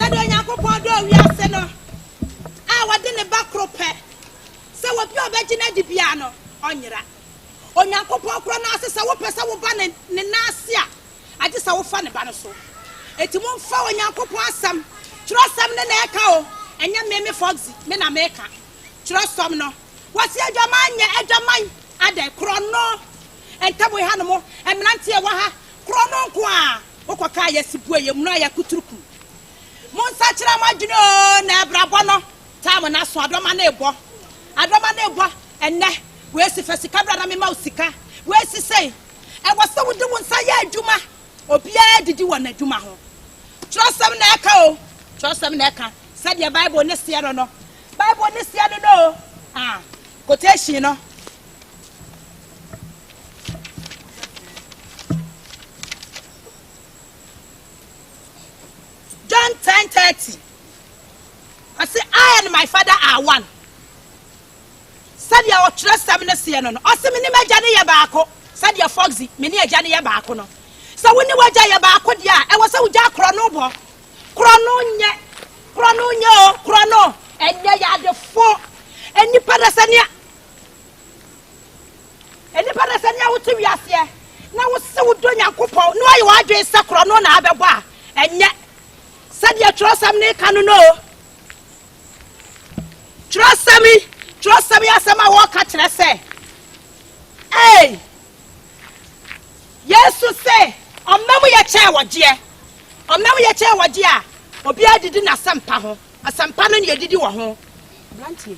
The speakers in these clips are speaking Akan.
Sɛdeɛ Onyankopɔn dɔɔ wiase no, a ɔde ne Ba koro pɛ, sɛ obi a ɔbɛgye no adi biara no, ɔnyera. Onyankopɔn korɔ no ara se sɛ wopɛ sɛ woba ne ne nan ase a, agye sɛ wofa ne Ba no so. Enti momfa Onyankopɔn Asɛm, Twerɛsɛm no na ɛreka o, ɛnyɛ me, me Foxy, me na mereka. Twerɛsɛm no, wɔse adwaman nyɛ adwaman, adɛn, korɔno, ntam ha no mo mmeranteɛ wɔ ha, korɔno nko ara. Mokɔka a yɛse bue yɛ munu a yɛakuturu kum Mo nsakyera mo adwene oo na abrabɔ no taa mo n'aso Adɔma no rebɔ, adɔma no rebɔ Ɛnnɛ wei se fa sika bra na mema wo sika Wei se sei Ɛwɔ sɛ wode wo nsa yɛ adwuma Obiara didi wɔ n'adwuma ho Twerɛsɛm na ɛka oo, twerɛsɛm na ɛka Sɛdeɛ Bible no seɛ no no, Bible no seɛ no no oo ah Quotation no. John 10:30. I say, I and my father are one. Sɛdeɛ ɔtwerɛ sɛm no seɛ no no, ɔse me ne m'agya no yɛ baako. Sɛdeɛ Foxy, me ne agya no yɛ baako no. Sɛ wo ne w'agya yɛ baako deɛ a, ɛwɔ sɛ wogya korɔ no bɔ. Korɔ no nyɛ, korɔ no nyɛ o, korɔ no ɛnyɛ yɛ adefo. Nnipa na sɛ nea Nnipa no, sɛnea wote wiaseɛ na wose wodɔ Nyankopɔn na woayɛ w'adwene sɛ korɔ no na abɛbɔ a, ɛnyɛ sɛdeɛ twerɛsɛm no reka no no o. Twerɛsɛm yi, twerɛsɛm yi asɛm a wɔreka kyerɛ sɛ, ei, Yesu se ɔma mu yɛ kyɛn wɔgyeɛ. Ɔma mu yɛ kyɛn wɔgyeɛ a, obiara didi n'asɛmpa ho. Asɛmpa no na yɛdidi wɔ ho. Brantie.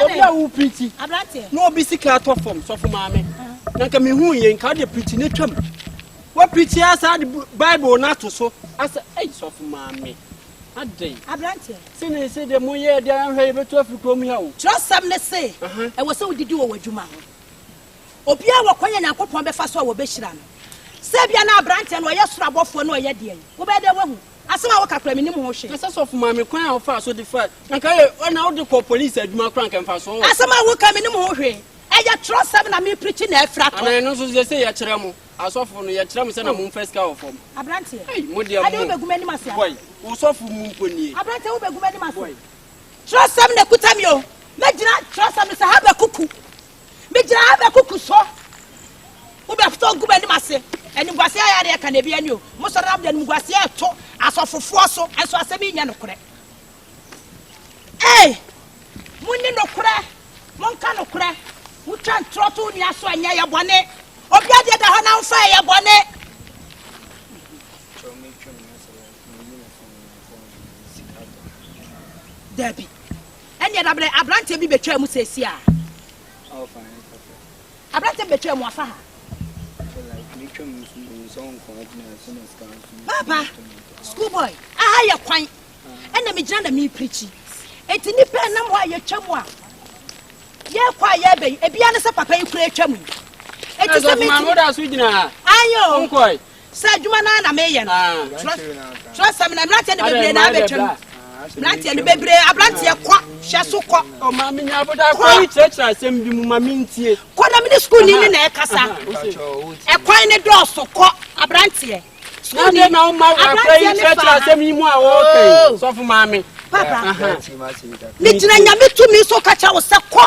obi a wo pirikyi na obi sika atɔ fam sɔfo maame na nka mehu yɛ nka wode pirikyi no twam wapirikyi asa de bible no ato so asa ei sɔfo maame adɛn aberanteɛ se ne se de moyɛ de ahwɛ yɛbɛtu afiri kurom ha o kyerɛsɛm ne se ɛwɔ sɛ wodidi wɔ w'adwuma ho obiaa wɔkɔ yɛ nyankopɔn bɛfa so a wɔbɛhyira no sɛ bia na aberanteɛ no ɔyɛ soro abɔfoɔ na ɔyɛ deɛ wobɛyɛ dɛ wahu Asɛm a woka koraa mennim ho hwee. Kasa sɔfo ma me kwan a wofaa so de fae anka eye na wode kɔɔ police adwuma koraa anka mfaso wɔ ho. Asɛm a woka mennim ho hwee ɛyɛ twerɛsɛm na me preachi na afira tɔ. Anaa ɛno nso seesei yɛkyerɛ mo asɔfo no yɛkyerɛ mo sɛ na mo mfa sika wɔ fam. Abranteɛ ei mo deɛ mo ɛdeɛ wobɛgu m'anim ase anaa. Boy wo sɔfo mu mpo nie. Abranteɛ wobɛgu m'anim ase. Boy. Twerɛsɛm na ɛkuta me o mɛgyina twerɛsɛm no sɛ Habakuku. Megyina ha bɛkuku so. Wobɛfotɔ agu m'anim ase. Animguaseɛ ayɛ adeɛ ka na ebi ani o. Mosɔre nam de animguaseɛ reto asɔfofoɔ so, nso asɛm yi nyɛ nokorɛ. Ei! Monni nokorɛ, monka nokorɛ. Motwa ntorɔ to wo nua so a, nyɛ ɛyɛ bɔne. Obi adeɛ da hɔ na womfa ɛyɛ bɔne. Dabi. Ɛnneɛ dabrɛ aberanteɛ bi bɛtwaa mu seesei a. Aberanteɛ bi bɛtwaa mu afa ha. Papa, school boy, aha yɛ kwan. Ɛna megyina na meprikyi. Enti nnipa nam hɔ a yɛtwa mu a yɛkɔ a yɛbɛ yi, ebia ne sɛ papa yi kura atwa mu yi. Enti sɛ metumi. Ayɛ o. Saa adwuma no ara na meyɛ no. Twerɛsɛm no, mmeranteɛ no bebree na abɛtwam. Mmeranteɛ no bebree, aberanteɛ kɔ, hyɛ so kɔ. O ma me nya boda kɔ yi kyerɛkyerɛ asɛm bi mu ma me ntie. Kɔ na mene sukuuni ne na ɛkasa. Ɛkwan ne dɔɔso kɔ, aberanteɛ. Sukuuni, aberanteɛ ne fa. Na akora yi kyerɛkyerɛ asɛm yi mu a wɔɔka yi, sɔfo maame. Papa, megyina nyame tumi so ka kyerɛ wo sɛ kɔ.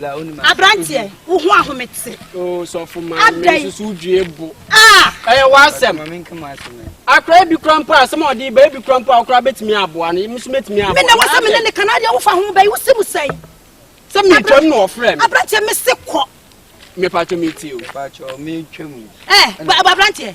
Abranteɛ, wo ho ahome te. Oo oh, sɔfo maa mi nsusu due bo. Ah! Ɛyɛ w'asɛm. Akora ebi kura mpo a sɛm a ɔde ba ebi kura mpo a ɔkora betumi aboa no emu so betumi aboa. Mena wasa mena ne kana deɛ wofa ho bɛyi wosi mu sɛn. Sɛ mi twɛm na ɔfrɛ mi. Abranteɛ mi se kɔ. Mepatwa mi ti o. Mepatwa mi twɛm. Ɛ abranteɛ